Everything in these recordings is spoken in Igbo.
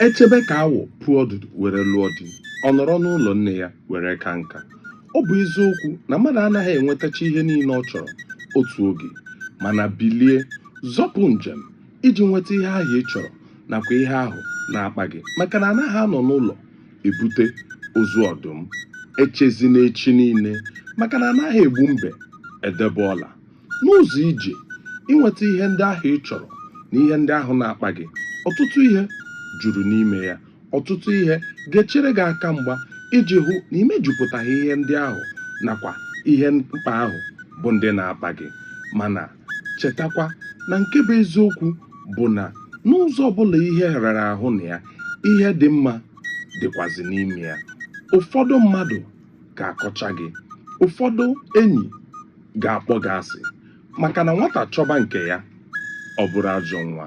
echebe ka awọ puo ọdụdụ were lụọ di ọ nọrọ n'ụlọ nne ya were ka nka ọ bụ eziokwu na mmadụ anaghị enwetacha ihe niile ọ chọrọ otu oge mana bilie zọpụ njem iji nweta ihe ahụ ị chọrọ nakwa ihe ahụ na-akpa gị maka na anaghị anọ n'ụlọ ebute ozu ọdụm echezina echi niile maka na anaghị egbu mbe edebe ọla N'ụzọ ije inweta ihe ndị ahụ ị chọrọ na ihe ndị ahụ na-akpa gị, ọtụtụ ihe juru n'ime ya. Ọtụtụ ihe ga-echere gị aka mgba iji hụ na i mejupụtaghị ihe ndị ahụ nakwa ihe mkpa ahụ bụ ndị na-akpa gị. Mana, chetakwa na nke bụ eziokwu bụ na n'ụzọ ọ bụla ihe rara ahụ na ya, ihe dị mma dịkwazị n'ime ya. Ụfọdụ mmadụ ga-akọcha gị. Ụfọdụ enyi ga-akpọ gị asị maka na nwata chọba nke ya ọ bụrụ ajọ nwa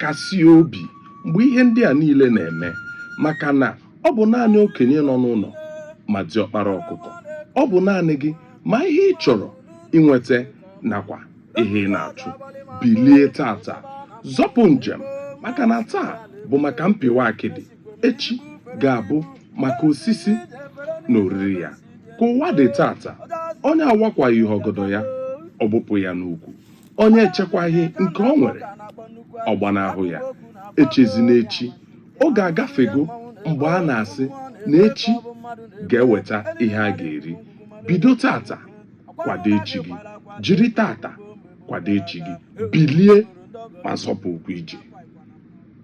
kasie obi mgbe ihe ndị a niile na-eme maka na ọ bụ naanị okenye nọ n'ụlọ ma diọkpara ọkụkọ ọ bụ naanị gị ma ihe ị chọrọ inweta nakwa ihe ị na-achụ bilie tata zọpụ njem maka na taa bụ maka mpịwa akịdị echi ga-abụ maka osisi na oriri ya ka ụwa dị tata onye awakwaghị ọgọdọ ya ọ gbụpụ ya n'ukwu onye echekwaghị nke o nwere ọ gbanahụ ya echezina echi oge agafego mgbe a na-asị na echi ga-eweta ihe a ga-eri bido tata kwado echi gị jiri tata kwado echi gị bilie ma zọpụ ụkwụ ije